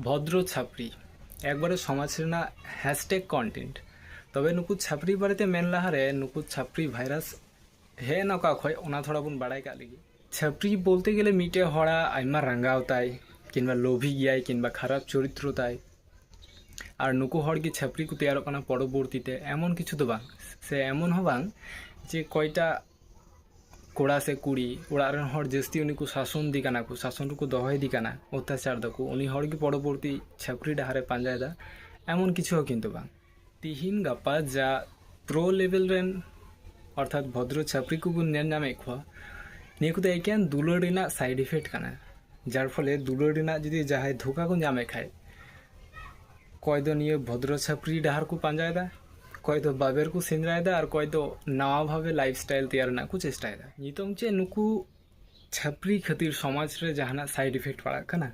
ᱵᱷᱚᱫᱨᱚ ᱪᱷᱟᱯᱨᱤ ᱮᱠᱵᱟᱨᱮ ᱥᱚᱢᱟᱡᱽ ᱨᱮᱱᱟᱜ ᱦᱮᱥᱴᱮᱜ ᱠᱚᱱᱴᱮᱱᱴ ᱛᱚᱵᱮ ᱱᱩᱠᱩ ᱪᱷᱟᱯᱨᱤ ᱵᱟᱨᱮᱛᱮ ᱢᱮᱱ ᱞᱟᱦᱟᱨᱮ ᱱᱩᱠᱩ ᱪᱷᱟᱯᱨᱤ ᱵᱷᱟᱭᱨᱟᱥ ᱦᱮᱡ ᱮᱱᱟ ᱚᱠᱟ ᱠᱷᱚᱡ ᱚᱱᱟ ᱛᱷᱚᱲᱟ ᱵᱚᱱ ᱵᱟᱲᱟᱭ ᱠᱟᱜ ᱞᱮᱜᱮ ᱪᱷᱟᱯᱨᱤ ᱵᱚᱞᱛᱮ ᱜᱮᱞᱮ ᱢᱤᱫᱴᱮᱡ ᱦᱚᱲᱟᱜ ᱟᱭᱢᱟ ᱨᱟᱸᱜᱟᱣ ᱛᱟᱭ ᱠᱤᱝᱵᱟ ᱞᱳᱵᱷᱤ ᱜᱮᱭᱟᱭ ᱠᱤᱝᱵᱟ ᱠᱷᱟᱨᱟᱯ ᱪᱚᱨᱤᱛᱨᱚ ᱛᱟᱭ ᱟᱨ ᱱᱩᱠᱩ ᱦᱚᱲ ᱜᱮ ᱪᱷᱟᱯᱨᱤ ᱠᱚ ᱛᱮᱭᱟᱨᱚᱜ ᱠᱟᱱᱟ ᱯᱚᱨᱚᱵᱚᱨᱛᱤ ᱛᱮ ᱮᱢᱚᱱ ᱠᱤᱪᱷᱩ ᱫᱚ ᱵᱟᱝ ᱥᱮ ᱮᱢᱚᱱ ᱦᱚᱸ ᱵᱟᱝ ᱡᱮ ᱠᱚᱭᱴᱟ ᱠᱚᱲᱟ ᱥᱮ ᱠᱩᱲᱤ ᱚᱲᱟᱜ ᱨᱮᱱ ᱦᱚᱲ ᱡᱟᱹᱥᱛᱤ ᱩᱱᱤ ᱠᱚ ᱥᱟᱥᱚᱱ ᱫᱤ ᱠᱟᱱᱟ ᱠᱚ ᱥᱟᱥᱚᱱ ᱨᱮᱠᱚ ᱫᱚᱦᱚᱭ ᱫᱤ ᱠᱟᱱᱟ ᱚᱛᱛᱟᱪᱟᱨ ᱫᱟᱠᱚ ᱩᱱᱤ ᱦᱚᱲ ᱜᱮ ᱯᱚᱨᱚᱵᱚᱨᱛᱤ ᱪᱷᱟᱹᱯᱨᱤ ᱰᱟᱦᱟᱨ ᱮ ᱯᱟᱸᱡᱟᱭ ᱫᱟ ᱮᱢᱚᱱ ᱠᱤᱪᱷᱩ ᱦᱚᱸ ᱠᱤᱱᱛᱩ ᱵᱟᱝ ᱛᱤᱦᱤᱧ ᱜᱟᱯᱟ ᱡᱟ ᱯᱨᱳ ᱞᱮᱵᱮᱞ ᱨᱮᱱ ᱚᱨᱛᱷᱟᱛ ᱵᱷᱚᱫᱨᱚ ᱪᱷᱟᱹᱯᱨᱤ ᱠᱚᱵᱚᱱ ᱧᱮᱞ ᱧᱟᱢᱮᱫ ᱠᱚᱣᱟ ᱱᱤᱭᱟᱹ ᱠᱚᱫᱚ ᱮᱠᱮᱱ ᱫᱩᱞᱟᱹᱲ ᱨᱮᱱᱟᱜ ᱥᱟᱭᱤᱰ ᱤᱯᱷᱮᱠᱴ ᱠᱟᱱᱟ ᱡᱟᱨ ᱯᱷᱚᱞᱮ ᱫᱩᱞᱟᱹᱲ ᱨᱮᱱᱟᱜ ᱡᱩᱫᱤ ᱡᱟᱦᱟᱸᱭ ᱫᱷᱳᱠᱟ ᱠᱚ ᱧᱟᱢᱮᱫ ᱠᱷᱟᱡ ᱚᱠᱚᱭ ᱫᱚ ᱱᱤᱭᱟᱹ ᱵᱷᱚᱫᱨᱚ ᱪᱷᱟᱹᱯᱨᱤ ᱰᱟᱦᱟᱨ ᱠᱚ ᱯᱟᱸᱡᱟᱭᱮᱫᱟ ᱚᱠᱚᱭ ᱫᱚ ᱵᱟᱵᱮᱨ ᱠᱚ ᱥᱮᱸᱫᱽᱨᱟᱭᱮᱫᱟ ᱟᱨ ᱚᱠᱚᱭ ᱫᱚ ᱱᱟᱣᱟ ᱵᱷᱟᱵᱮ ᱞᱟᱭᱤᱯᱷ ᱥᱴᱟᱭᱤᱞ ᱛᱮᱭᱟᱨ ᱨᱮᱱᱟᱜ ᱠᱚ ᱪᱮᱥᱴᱟᱭᱮᱫᱟ ᱱᱤᱛᱚᱝ ᱪᱮᱫ ᱱᱩᱠᱩ ᱪᱷᱟᱹᱯᱨᱤ ᱠᱷᱟᱹᱛᱤᱨ ᱥᱚᱢᱟᱡᱽ ᱨᱮ ᱡᱟᱦᱟᱱᱟᱜ ᱥᱟᱭᱤᱰ ᱤᱯᱷᱮᱠᱴ ᱯᱟᱲᱟᱜ ᱠᱟᱱᱟ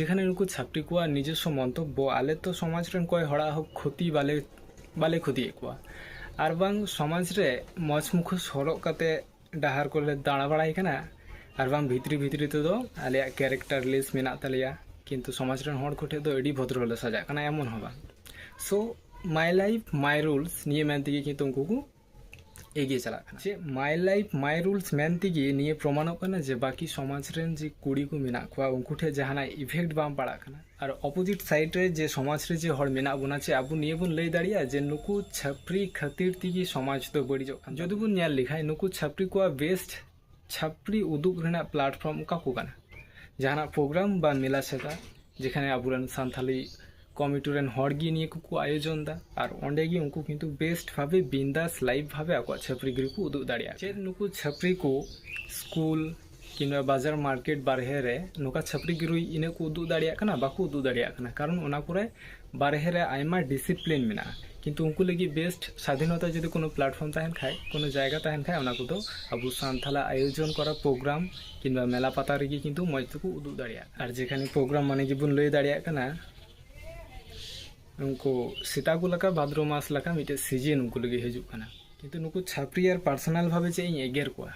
ᱡᱮᱠᱷᱟᱱᱮ ᱱᱩᱠᱩ ᱪᱷᱟᱹᱯᱨᱤ ᱠᱚᱣᱟᱜ ᱱᱤᱡᱚᱥᱥᱚ ᱢᱚᱱᱛᱚᱵᱵᱚ ᱟᱞᱮ ᱛᱚ ᱥᱚᱢᱟᱡᱽ ᱨᱮᱱ ᱚᱠᱚᱭ ᱦᱚᱲᱟᱜ ᱦᱚᱸ ᱠᱷᱚᱛᱤ ᱵᱟᱞᱮ ᱵᱟᱞᱮ ᱠᱷᱚᱛᱤᱭᱮᱫ ᱠᱚᱣᱟ ᱟᱨ ᱵᱟᱝ ᱥᱚᱢᱟᱡᱽ ᱨᱮ ᱢᱚᱡᱽ ᱢᱩᱠᱷᱚᱥ ᱦᱚᱨᱚᱜ ᱠᱟᱛᱮ ᱰᱟᱦᱟᱨ ᱠᱚᱞᱮ ᱫᱟᱬᱟ ᱵᱟᱲᱟᱭ ᱠᱟᱱᱟ ᱟᱨ ᱵᱟᱝ ᱵᱷᱤᱛᱨᱤ ᱵᱷᱤᱛᱨᱤ ᱛᱮᱫᱚ ᱟᱞᱮᱭᱟᱜ ᱠᱮᱨᱮᱠᱴᱟᱨ ᱞᱤᱥᱴ ᱢᱮᱱᱟᱜ ᱛᱟᱞᱮᱭᱟ ᱠᱤᱱᱛᱩ ᱥᱚᱢᱟᱡᱽ ᱨᱮᱱ ᱦᱚᱲ ᱠᱚᱴᱷᱮᱱ ᱫᱚ ᱟᱹᱰᱤ ᱵᱷᱚᱫᱨᱚ ᱞᱮ ᱥᱟᱡᱟᱜ ᱠᱟᱱᱟ ᱮᱢᱚᱱ ᱦᱚᱸ ᱵᱟᱝ so my life my rules ᱱᱤᱭᱟᱹ ᱢᱮᱱ ᱛᱮᱜᱮ ᱠᱤᱱᱛᱩ ᱩᱱᱠᱩ ᱠᱚ ᱮᱜᱤᱭᱮ ᱪᱟᱞᱟᱜ ᱠᱟᱱᱟ ᱪᱮᱫ ᱢᱟᱭ ᱞᱟᱭᱤᱯᱷ ᱢᱟᱭ ᱨᱩᱞᱥ ᱢᱮᱱ ᱛᱮᱜᱮ ᱱᱤᱭᱟᱹ ᱯᱨᱚᱢᱟᱱᱚᱜ ᱠᱟᱱᱟ ᱡᱮ ᱵᱟᱹᱠᱤ ᱥᱚᱢᱟᱡᱽ ᱨᱮᱱ ᱡᱮ ᱠᱩᱲᱤ ᱠᱚ ᱢᱮᱱᱟᱜ ᱠᱚᱣᱟ ᱩᱱᱠᱩ ᱴᱷᱮᱱ ᱡᱟᱦᱟᱱᱟᱜ ᱤᱯᱷᱮᱠᱴ ᱵᱟᱝ ᱯᱟᱲᱟᱜ ᱠᱟᱱᱟ ᱟᱨ ᱚᱯᱚᱡᱤᱴ ᱥᱟᱭᱤᱰ ᱨᱮ ᱡᱮ ᱥᱚᱢᱟᱡᱽ ᱨᱮ ᱡᱮ ᱦᱚᱲ ᱢᱮᱱᱟᱜ ᱵᱚᱱᱟ ᱪᱮᱫ ᱟᱵᱚ ᱱᱤᱭᱟᱹ ᱵᱚᱱ ᱞᱟᱹᱭ ᱫᱟᱲᱮᱭᱟᱜᱼᱟ ᱡᱮ ᱱᱩᱠᱩ ᱪᱷᱟᱯᱨᱤ ᱠᱷᱟᱹᱛᱤᱨ ᱛᱮᱜᱮ ᱥᱚᱢᱟᱡᱽ ᱫᱚ ᱵᱟᱹᱲᱤᱡᱚᱜ ᱠᱟᱱᱟ ᱡᱩᱫᱤ ᱵᱚᱱ ᱧᱮᱞ ᱞᱮᱠᱷᱟᱱ ᱱᱩᱠᱩ ᱪᱷᱟᱯᱨᱤ ᱠᱚᱣᱟᱜ ᱵᱮᱥᱴ ᱪᱷᱟᱯᱨᱤ ᱩᱫᱩᱜ ᱨᱮᱱᱟᱜ ᱯᱞᱟᱴᱯᱷᱚᱨᱢ ᱚᱠᱟ ᱠᱚ ᱠᱟᱱᱟ ᱡᱟᱦᱟᱱᱟᱜ ᱯᱨᱳᱜᱨᱟᱢ ᱵᱟ ᱢᱮᱞᱟ ᱪᱷᱟᱛᱟ ᱡᱮᱠᱷᱟᱱᱮ ᱟᱵᱚᱨᱮᱱ ᱥᱟᱱᱛᱟᱞᱤ ᱠᱚᱢᱤᱴᱤ ᱨᱮᱱ ᱦᱚᱲ ᱜᱮ ᱱᱤᱭᱟᱹ ᱠᱚᱠᱚ ᱟᱭᱳᱡᱚᱱ ᱫᱟ ᱟᱨ ᱚᱸᱰᱮ ᱜᱮ ᱩᱱᱠᱩ ᱠᱤᱱᱛᱩ ᱵᱮᱥᱴ ᱵᱷᱟᱵᱮ ᱵᱤᱱᱫᱟᱥ ᱞᱟᱭᱤᱵᱷ ᱵᱷᱟᱵᱮ ᱟᱠᱚᱣᱟᱜ ᱪᱷᱟᱯᱨᱤ ᱜᱤᱨᱤ ᱠᱚ ᱩᱫᱩᱜ ᱫᱟᱲᱮᱭᱟᱜᱼᱟ ᱪᱮᱫ ᱱᱩᱠᱩ ᱪᱷᱟᱯᱨᱤ ᱠᱚ ᱥᱠᱩᱞ ᱠᱤᱝᱵᱟ ᱵᱟᱡᱟᱨ ᱢᱟᱨᱠᱮᱴ ᱵᱟᱨᱦᱮ ᱨᱮ ᱱᱚᱝᱠᱟ ᱪᱷᱟᱹᱯᱨᱤ ᱜᱤᱨᱩᱭ ᱤᱱᱟᱹᱜ ᱠᱚ ᱩᱫᱩᱜ ᱫᱟᱲᱮᱭᱟᱜ ᱠᱟᱱᱟ ᱵᱟᱠᱚ ᱩᱫᱩᱜ ᱫᱟᱲᱮᱭᱟᱜ ᱠᱟᱱᱟ ᱠᱟᱨᱚᱱ ᱚᱱᱟ ᱠᱚᱨᱮ ᱵᱟᱨᱦᱮ ᱨᱮ ᱟᱭᱢᱟ ᱰᱤᱥᱤᱯᱞᱤᱱ ᱢᱮᱱᱟᱜᱼᱟ ᱠᱤᱱᱛᱩ ᱩᱱᱠᱩ ᱞᱟᱹᱜᱤᱫ ᱵᱮᱥᱴ ᱥᱟᱫᱷᱤᱱᱚᱛᱟ ᱡᱩᱫᱤ ᱠᱳᱱᱳ ᱯᱞᱟᱴᱯᱷᱚᱨᱢ ᱛᱟᱦᱮᱱ ᱠᱷᱟᱱ ᱠᱳᱱᱳ ᱡᱟᱭᱜᱟ ᱛᱟᱦᱮᱱ ᱠᱷᱟᱱ ᱚᱱᱟ ᱠᱚᱫᱚ ᱟᱵᱚ ᱥᱟᱱᱛᱟᱲᱟᱜ ᱟᱭᱳᱡᱚᱱ ᱠᱚᱨᱟ ᱯᱨᱳᱜᱨᱟᱢ ᱠᱤᱝᱵᱟ ᱢᱮᱞᱟ ᱯᱟᱛᱟ ᱨᱮᱜᱮ ᱠᱤᱱᱛᱩ ᱢᱚᱡᱽ ᱛᱮᱠᱚ ᱩᱫᱩᱜ ᱫᱟᱲᱮᱭᱟᱜᱼᱟ ᱟᱨ ᱡᱮᱠᱷᱟᱱᱮ ᱯᱨᱳᱜᱨᱟᱢ ᱢᱟᱱᱮ ᱜᱮᱵᱚᱱ ᱞᱟᱹᱭ ᱫᱟᱲᱮᱭᱟᱜ ᱠᱟᱱᱟ ᱩᱱᱠᱩ ᱥᱮᱛᱟ ᱠᱚ ᱞᱮᱠᱟ ᱵᱷᱟᱫᱨᱚ ᱢᱟᱥ ᱞᱮᱠᱟ ᱢᱤᱫᱴᱮᱱ ᱥᱤᱡᱤᱱ ᱩᱱᱠᱩ ᱞᱟᱹᱜᱤᱫ ᱦᱤᱡᱩᱜ ᱠᱟᱱᱟ ᱠᱤᱱᱛᱩ ᱱᱩᱠᱩ ᱪᱷᱟᱹᱯᱨᱤ ᱟᱨ ᱯᱟᱨᱥᱚᱱᱟᱞ ᱵᱷᱟᱵᱮ ᱪᱮᱫ ᱤᱧ ᱮᱜᱮᱨ ᱠᱚᱣᱟ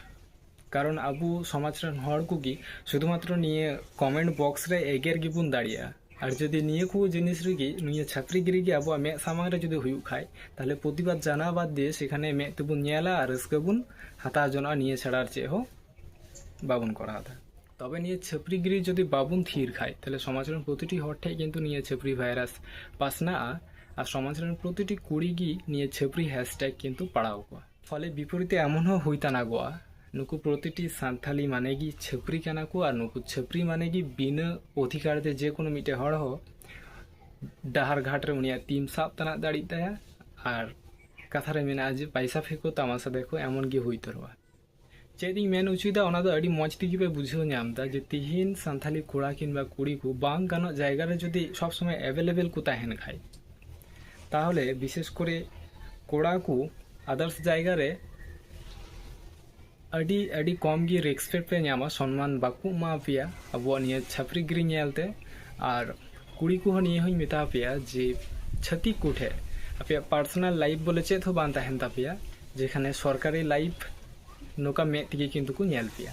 ᱠᱟᱨᱚᱱ ᱟᱵᱚ ᱥᱚᱢᱟᱡᱽ ᱨᱮᱱ ᱦᱚᱲ ᱠᱚᱜᱮ ᱥᱩᱫᱷᱩ ᱢᱟᱛᱨᱚ ᱱᱤᱭᱟᱹ ᱠᱚᱢᱮᱱᱴ ᱵᱚᱠᱥ ᱨᱮ ᱮᱜᱮᱨ ᱜᱮᱵᱚᱱ ᱫᱟᱲᱮᱭᱟᱜᱼᱟ ᱟᱨ ᱡᱩᱫᱤ ᱱᱤᱭᱟᱹ ᱠᱚ ᱡᱤᱱᱤᱥ ᱨᱮᱜᱮ ᱱᱤᱭᱟᱹ ᱪᱷᱟᱹᱯᱨᱤ ᱜᱤᱨᱤ ᱜᱮ ᱟᱵᱚᱣᱟᱜ ᱢᱮᱫ ᱥᱟᱢᱟᱝ ᱨᱮ ᱡᱩᱫᱤ ᱦᱩᱭᱩᱜ ᱠᱷᱟᱱ ᱛᱟᱦᱚᱞᱮ ᱯᱨᱚᱛᱤᱵᱟᱫᱽ ᱡᱟᱱᱟᱣ ᱵᱟᱫᱽ ᱫᱤᱭᱮ ᱥᱮᱠᱷᱟᱱᱮ ᱢᱮᱫ ᱛᱮᱵᱚᱱ ᱧᱮᱞᱟ ᱟᱨ ᱨᱟᱹᱥᱠᱟᱹ ᱵᱚᱱ ᱦᱟᱛᱟᱣ ᱡᱚᱱᱚᱜᱼᱟ ᱱᱤᱭᱟᱹ ᱪᱷᱟᱲᱟ ᱟᱨ ᱪᱮᱫ ᱦᱚᱸ ᱵᱟᱵᱚᱱ ᱠᱚᱨᱟᱣ ᱮᱫᱟ ᱛᱚᱵᱮ ᱱᱤᱭᱟᱹ ᱪᱷᱟᱹᱯᱨᱤ ᱜᱤᱨᱤ ᱡᱩᱫᱤ ᱵᱟᱵᱚᱱ ᱛᱷᱤᱨ ᱠᱷᱟᱱ ᱛᱟᱦᱚᱞᱮ ᱥᱚᱢᱟᱡᱽ ᱨᱮᱱ ᱯᱨᱚᱛᱤᱴᱤ ᱦᱚᱲ ᱴᱷᱮᱱ ᱠᱤᱱᱛᱩ ᱱᱤᱭᱟᱹ ᱪᱷᱟᱹᱯᱨᱤ ᱵᱷᱟᱭᱨᱟᱥ ᱯᱟᱥᱱᱟᱜᱼᱟ ᱟᱨ ᱥᱚᱢᱟᱡᱽ ᱨᱮᱱ ᱯᱨᱚᱛᱤᱴᱤ ᱠᱩᱲᱤ ᱜᱮ ᱱᱤᱭᱟᱹ ᱪᱷᱟᱹᱯᱨᱤ ᱦᱮᱥᱴᱮᱜᱽ ᱠᱤᱱᱛᱩ ᱯᱟᱲᱟᱣ ᱠᱚᱣᱟ ᱯᱷᱚᱞᱮ ᱵᱤᱯᱚᱨᱤᱛᱮ ᱮᱢᱚᱱ ᱦᱚᱸ ᱦᱩᱭ ᱛᱟᱱᱟᱜᱚᱜᱼᱟ ᱱᱩᱠᱩ ᱯᱨᱚᱛᱤᱴᱤ ᱥᱟᱱᱛᱷᱟᱞᱤ ᱢᱟᱱᱮ ᱜᱮ ᱪᱷᱟᱹᱯᱨᱤ ᱠᱟᱱᱟ ᱠᱚ ᱟᱨ ᱱᱩᱠᱩ ᱪᱷᱟᱹᱯᱨᱤ ᱢᱟᱱᱮ ᱜᱮ ᱵᱤᱱᱟᱹ ᱚᱫᱷᱤᱠᱟᱨ ᱛᱮ ᱡᱮ ᱠᱳᱱᱳ ᱢᱤᱫᱴᱮᱱ ᱦᱚᱲ ᱦᱚᱸ ᱰᱟᱦᱟᱨ ᱜᱷᱟᱴ ᱨᱮ ᱩᱱᱤᱭᱟᱜ ᱛᱤᱢ ᱥᱟᱵ ᱛᱟᱱᱟᱜ ᱫᱟᱲᱮᱜ ᱛᱟᱭᱟ ᱟᱨ ᱠᱟᱛᱷᱟ ᱨᱮ ᱢᱮᱱᱟᱜᱼᱟ ᱡᱮ ᱯᱟᱭᱥᱟ ᱯᱷᱮᱸᱠᱚ ᱛᱟᱢᱟᱥᱟ ᱫᱮᱠᱷᱚ ᱮᱢᱚᱱ ᱜᱮ ᱦᱩᱭ ᱩᱛᱟᱹᱨᱚᱜᱼᱟ ᱪᱮᱫ ᱤᱧ ᱢᱮᱱ ᱚᱪᱚᱭᱮᱫᱟ ᱚᱱᱟ ᱫᱚ ᱟᱹᱰᱤ ᱢᱚᱡᱽ ᱛᱮᱜᱮ ᱯᱮ ᱵᱩᱡᱷᱟᱹᱣ ᱧᱟᱢ ᱮᱫᱟ ᱡᱮ ᱛᱤᱦᱤᱧ ᱥᱟᱱᱛᱷᱟᱞᱤ ᱠᱚᱲᱟ ᱠᱤᱝᱵᱟ ᱠᱩᱲᱤ ᱠᱚ ᱵᱟᱝ ᱜᱟᱱᱚᱜ ᱡᱟᱭᱜᱟ ᱨᱮ ᱡᱩᱫᱤ ᱥᱚᱵ ᱥᱚᱢᱚᱭ ᱮᱵᱮᱞᱮᱵᱮᱞ ᱠᱚ ᱛᱟᱦᱮᱱ ᱠᱷᱟᱡ ᱛᱟᱦᱚᱞᱮ ᱵᱤᱥᱮᱥ ᱠᱚᱨᱮ ᱠᱚᱲᱟ ᱠᱚ ᱟᱫᱟᱨᱥ ᱡᱟᱭᱜᱟ ᱨᱮ ᱟᱹᱰᱤ ᱟᱹᱰᱤ ᱠᱚᱢ ᱜᱮ ᱨᱮᱥᱯᱮᱠᱴ ᱯᱮ ᱧᱟᱢᱟ ᱥᱚᱱᱢᱟᱱ ᱵᱟᱠᱚ ᱮᱢᱟ ᱯᱮᱭᱟ ᱟᱵᱚᱣᱟᱜ ᱱᱤᱭᱟᱹ ᱪᱷᱟᱯᱨᱤ ᱜᱤᱨᱤ ᱧᱮᱞᱛᱮ ᱟᱨ ᱠᱩᱲᱤ ᱠᱚᱦᱚᱸ ᱱᱤᱭᱟᱹ ᱦᱚᱸᱧ ᱢᱮᱛᱟ ᱯᱮᱭᱟ ᱡᱮ ᱪᱷᱟᱹᱛᱤᱠ ᱠᱚᱴᱷᱮ ᱟᱯᱮᱭᱟᱜ ᱯᱟᱨᱥᱚᱱᱟᱞ ᱞᱟᱭᱤᱯᱷ ᱵᱚᱞᱮ ᱪᱮᱫ ᱦᱚᱸ ᱵᱟᱝ ᱛᱟᱦᱮᱱ ᱛᱟᱯᱮᱭᱟ ᱡᱮᱠᱷᱟᱱᱮ ᱥᱚᱨᱠᱟᱨᱤ ᱞᱟᱭᱤᱯᱷ ᱱᱚᱝᱠᱟ ᱢᱮᱫ ᱛᱮᱜᱮ ᱠᱤᱱᱛᱩ ᱠᱚ ᱧᱮᱞ ᱯᱮᱭᱟ